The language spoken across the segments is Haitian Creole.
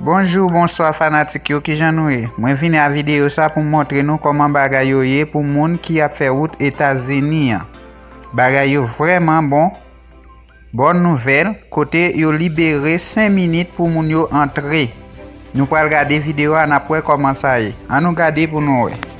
Bonjou bonswa fanatik yo kijan nou ye mwen vini a video sa poum montre nou koman bagay yo ye pou moun ki ap fè wout etazini an bagay yo vrèman bon bòn nouvèl kote yo libere 5 minit pou moun yo antre nou pral gade video a nap wè koman sa ye an nou gade pou nou wè.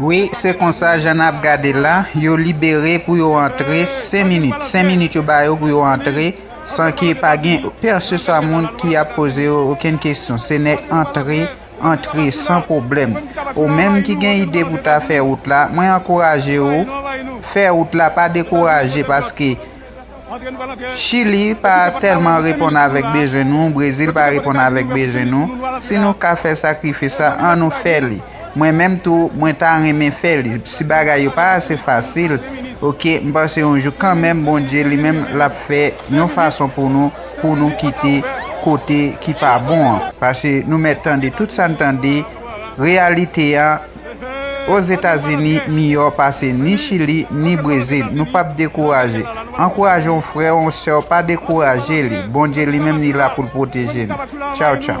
Wi se konsa jan nap gade la yo libere pou yo antre 5 minit 5 minit yo ba yo pou yo antre san ke pa gen pèseswa moun ki ap poze yo okenn kesyon se nèg antre antre san pwoblèm ou menm ki gen ide pou ta fè wout la mwen ankouraje ou fè wout la pa dekouraje paske Chili pa tèlman reponn avèk bezwen nou, Brezil pa reponn avèk bezwen nou, si nou ka fè sakrifis la an nou fè li, mwen menm tou mwen ta renmen fè li, si bagay yo pa ase fasil ok m panse yon jou kanmenm Bondye li menm lap fè yon fason pou nou pou nou kite kote ki pa bon an. Pase nou mèt tande tout sa n tande, reyalite an Ozetazini miyò pase ni chili ni brezil nou pap dekouraje ankouraje yon frèw yon sèw pa dekouraje li bondye li menm li la poul proteje nou tchaw tchaw.